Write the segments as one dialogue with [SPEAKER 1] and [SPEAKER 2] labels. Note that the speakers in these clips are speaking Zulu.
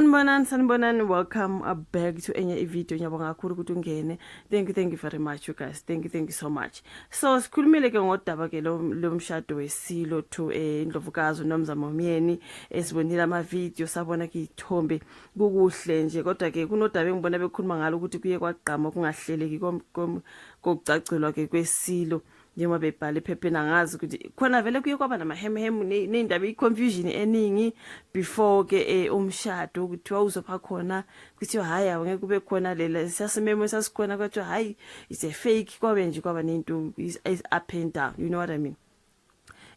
[SPEAKER 1] sanibonani sanibonani welcome uh, back to enye ivideo ngiyabonga kakhulu ukuthi ungene thank you thank you very much you guys thank you thank you so much so sikhulumile ke ngodaba ke lo mshado wesilo to eh, indlovukazi unomzamo omyeni esibonile amavidiyo sabona ke ithombe kukuhle nje kodwa ke kunodaba engibona bekhuluma ngalo ukuthi kuye kwagqama kungahleleki kokucagcelwa ke kwesilo njengoba bebhala ephepheni angazi ukuthi khona vele kuye kwaba namahemhemu ney'ndaba i-confusion eningi before ke eh, umshado kuthiwa uzopha khona kuthiwa hhayi awungeke kube khona lela sasimemo esasikhona kwathiwa hhayi it's a fake kwabe nje kwaba ney'nto is up and down you know what i mean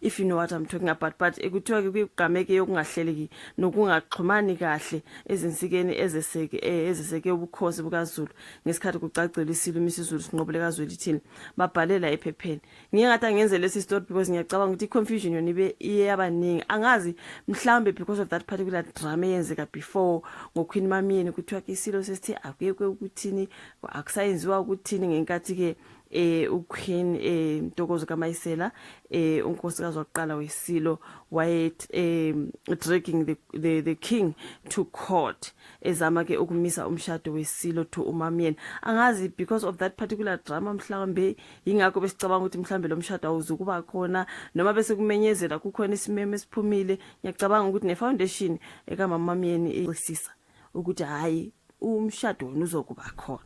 [SPEAKER 1] if you know what I'm talking about but kuthiwa ke kuyigqameke yokungahleleki nokungaxhumani kahle ezinsikeni ezeseke eh, ezeseke ubukhosi bukaZulu ngesikhathi kucacela isilo imisizulu sinqobule kaZweli thini babhalela ephepheni ngiye ngathi angenze lesi story because ngiyacabanga ukuthi confusion yona ibe iyabaningi angazi mhlambe because of that particular drama eyenzeka before ngoQueen Mamiyeni kuthiwa ke isilo sesithi akuyekwe ukuthini akusayenziwa ukuthini ngenkathi ke eh uQueen eh Ntokozo kaMayisela eh unkosikazi wokuqala weSilo waye eh dragging the, the the king to court ezama ke ukumisa umshado weSilo to uMamyeni angazi because of that particular drama mhlawumbe ingakho besicabanga ukuthi mhlawumbe lo mshado awuzukuba khona noma bese kumenyezela kukhona isimeme esiphumile ngiyacabanga ukuthi ne foundation eka mamamyeni isisa ukuthi hayi umshado wenu uzokuba khona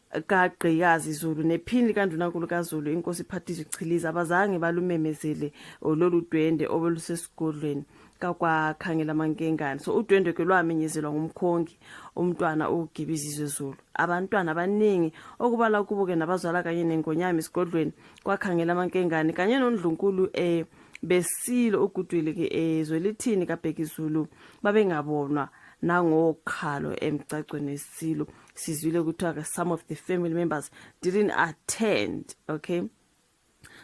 [SPEAKER 1] kagqikazi Zulu nephini likandunankulu kaZulu inkosi Phatizwe Chiliza abazange balumemezele oh, lolu dwende obelusesigodlweni kakwakhangela mankengane so udwendwe ke lwamenyezelwa ngumkhongi umntwana uGibizizwe Zulu abantwana abaningi okubala kubo ke nabazwala kanye nengonyama esigodlweni kwakhangela mankengane kanye nondlunkulu eh besilo ugudwile ke ezwe eh, lithini kaBhekizulu babengabonwa nangokhalo emgcagcweni esilo sizwile kuthiwa some of the family members didn't attend okay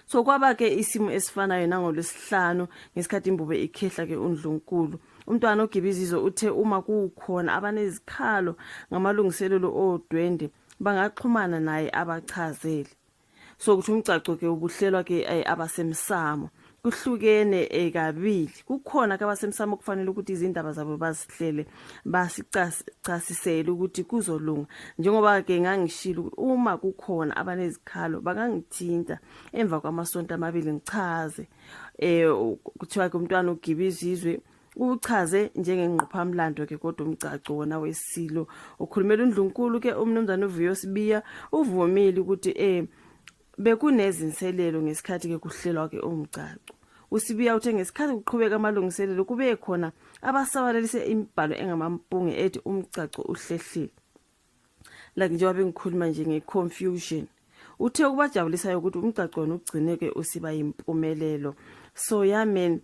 [SPEAKER 1] so kwaba ke isimo esifanayo nangolwesihlanu ngesikhathi imbube ikhehla ke undlunkulu umntwana ogibizizwe uthe uma kukhona abanezikhalo ngamalungiselelo odwende bangaxhumana naye abachazele so ukuthi umgcagco ke ubuhlelwa ke eh, abasemsamo kuhlukene eh, kabili kukhona ke abasemsamo kufanele ukuthi izindaba zabo bazihlele basicasisele ukuthi kuzolunga njengoba ke ngangishilo ukuthi uma kukhona abanezikhalo bangangithinta emva kwamasonto amabili ngichaze eh kuthiwa ke umntwana ugiba izizwe uchaze njengengqophamlando ke kodwa umgcagco wona wesilo ukhulumela undlunkulu ke umnumzane uvuyo sibiya uvumile ukuthi eh bekunezinselelo ngesikhathi ke kuhlelwa ke umgcagco usibiya uthe ngesikhathi kuqhubeka amalungiselelo kube khona abasabalalise imibhalo engamampunge ethi umgcagco uhlehlile like njengoba bengikhuluma nje nge-confusion uthe ukubajabulisayo ukuthi umgcagcwana ugcineke usiba yimpumelelo so yamen yeah,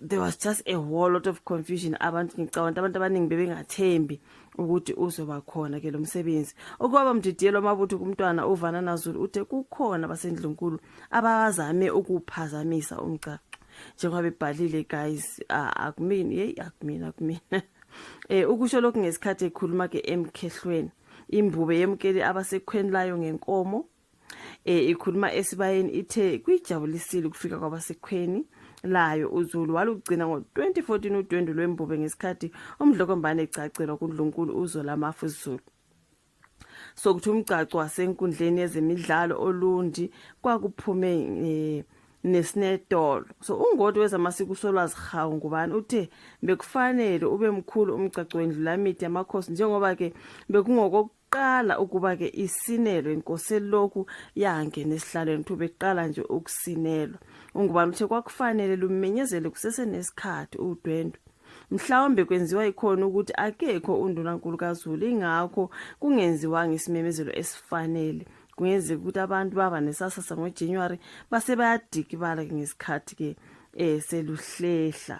[SPEAKER 1] there was just a whole lot of confusion abantu ngicabanga abantu abaningi bebengathembi ukuthi uzoba khona ke lo msebenzi okwaba mdidiyelo amabutho kumntwana uvana nazulu uthe kukhona basendlunkulu abazame ukuphazamisa umgcagco njengoba bebhalile guys akumini hey akumini akumini eh ukusho lokhu ngesikhathi ekhuluma ke emkhehlweni imbube yemkeli abasekhweni layo ngenkomo e, ikhuluma esibayeni ithe kuyijabulisile ukufika kwabasekhweni layo uzulu walugcina ngo-2014 udwendwe lwembube ngesikhathi umdlokombane egcagcelwa kundlunkulu uzolamafu zulu sokuthi umgcaco wasenkundleni yezemidlalo olundi kwakuphume eh, nesinetolo so ungoti wezamasiko usolwazi hawu ngubani uthe bekufanele ube mkhulu umgcagco wendlulamidi yamakhosi njengoba-ke bekungokokuqala qala ukuba ke isinelwe inkosi lokhu yangena esihlalweni thobe qala nje ukusinelwa ungubani uthe kwakufanele lumenyezele kusese nesikhathi udwendwe mhlawumbe kwenziwa ikhona ukuthi akekho undunankulu kaZulu ingakho kungenziwanga isimemezelo esifanele kungenzeka ukuthi abantu baba nesasasa ngoJanuary base bayadikibala ngesikhathi ke eh seluhlehla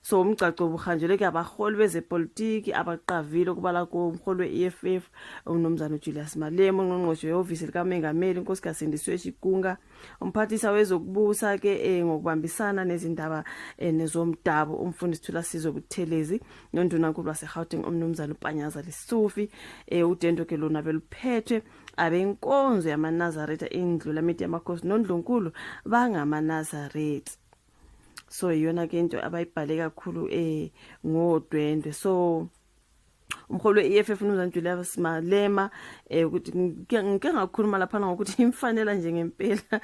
[SPEAKER 1] so umgcagco ubuhanjelwe ke abaholi bezepolitiki abaqavile okubala kuwo umholi we-eff umnumzane ujulius malema ungqongqoshe wehhovisi likamengameli unkosikazi sindiswe shikunga umphathisa wezokubusa ke eh, ngokubambisana nezindaba eh, nezomdabu umfundisi thulasizwe buthelezi nondunankulu wasegauteng umnumzane upanyaza lisufi eh, udendo ke lona beluphethwe abenkonzo yamanazaretha indlu lamiti yamakhosi nondlunkulu bangamanazaretha so iyona ke into abayibhale kakhulu eh ngodwendwe so umholi we-EFF uMnumzane Julius Malema eh ukuthi ngike ngakhuluma lapha ngokuthi imfanela nje ngempela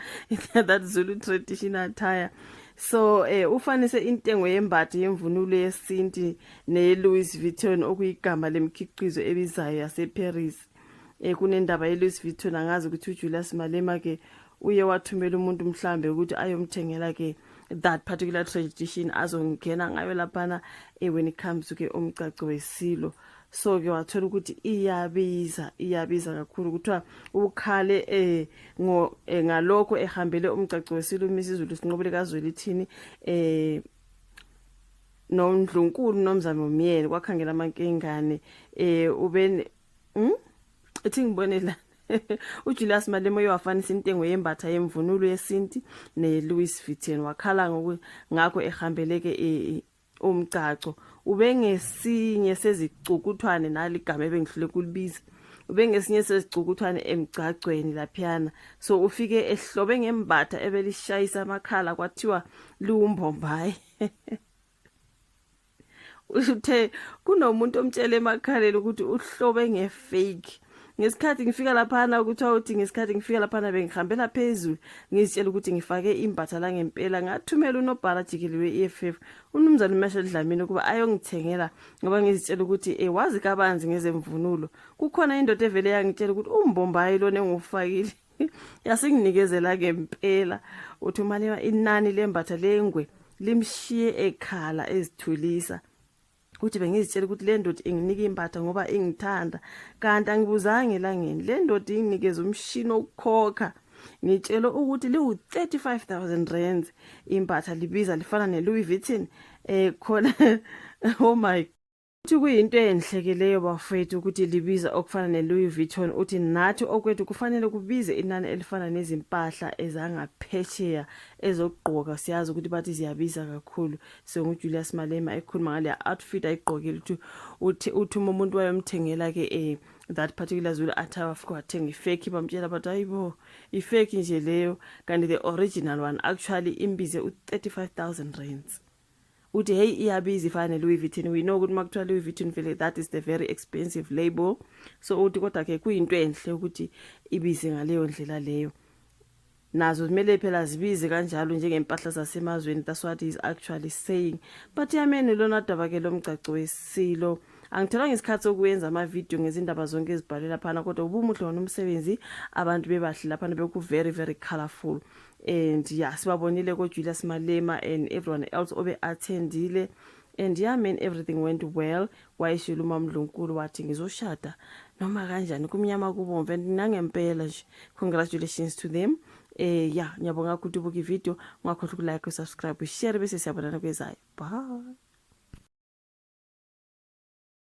[SPEAKER 1] that Zulu traditional attire so eh ufanise intengo yembathi yemvunulo yesinti ne Louis Vuitton okuyigama lemkhiqizo ebizayo yaseParis eh kunendaba yeLouis Vuitton angazi ukuthi uJulius Malema ke uye wathumela umuntu mhlambe ukuthi ayomthengela ke that particular tradition azongena ngayo laphana eh when it comes to ke umgcagco wesilo so ke wathola ukuthi iyabiza iyabiza kakhulu kuthiwa ukhale eh ngo eh, ngalokho ehambele umgcagco wesilo uMrs Zulu sinqobile kazwelithini eh nondlunkulu nomzamo myeni kwakhangela amankingane eh ube hm ethi ngibone la uJulius Malema uyafanisa intengo yembatha yemvunulo yesinti neLouis Vuitton wakhala ngoku ngakho ehambeleke e, umgcaco ubengesinye sezicukuthwane naligama ebengihlule kulibiza ubengesinye sezicukuthwane emgcagcweni laphiyana so ufike ehlobe ngembatha ebelishayisa amakhala kwathiwa liwumbombayi uthe kunomuntu omtshela emakhaleni ukuthi uhlobe ngefake ngesikhathi ngifika laphana kuthiwa uthi ngesikhathi ngifika laphana bengihambela phezulu ngizitshela ukuthi ngifake imbatha la ngempela ngathumela unobhala jikeli we-eff unumzane umesha dlamini ukuba ayongithengela ngoba ngizitshela ukuthi e wazi kabanzi ngezemvunulo kukhona indoda evele yangitshela ukuthi umbombayi lona engiwufakile yasinginikezela ke impela uthi umalema inani lembatha lengwe limshiye ekhala ezithulisa uthi bengizitshela ukuthi le ndoda inginika impatha ngoba ingithanda kanti angibuzanga elangeni le ndoda inginikeza umshini wokukhokha ngitshelwe ukuthi liwu-35000 rands impatha libiza lifana ne-louis vuitton um khona oh my Uthi kuyinto enhle ke leyo bafwethu ukuthi libiza okufana ne-Louis Vuitton uthi nathi okwethu kufanele kubize inani elifana nezimpahla ezangaphesheya ezokugqoka siyazi ukuthi bathi ziyabiza kakhulu so nguJulius Malema ekhuluma ngaleya outfit ayigqokile ukuthi uthi uthi uma umuntu wayomthengela ke eh that particular Zulu attire wafika wathenga ifake bamtshela bathi hayibo ifake nje leyo kanti the original one actually imbize u-35000 rands uthi hey iyabiza ifana ne-louis vuitton we know ukuthi uma kuthiwa louis vuitton vele that is the very expensive label so uthi kodwa-ke kuyinto enhle ukuthi ibize ngaleyo ndlela leyo nazo kumele phela zibize kanjalo njengempahla zasemazweni that's what is actually saying but yameni lona daba-ke lo mgcaco wesilo angitholanga isikhathi sokuyenza amavidiyo ngezindaba zonke ezibhalwe laphana kodwa ubumuhle wona umsebenzi abantu bebahle laphana beku-very very colorful and ya yeah, sibabonile kojulius malema and everyone else obe attendile and ya yeah, man everything went well wayeshilo umamdlunkulu wathi ngizoshada noma kanjani kumnyama kubomvu and nangempela nje congratulations to them eh ya yeah, ngiyabonga ukuthi ubuka ivideo ungakhohlwa ukulike usubscribe ushare bese siyabonana kwezayo bye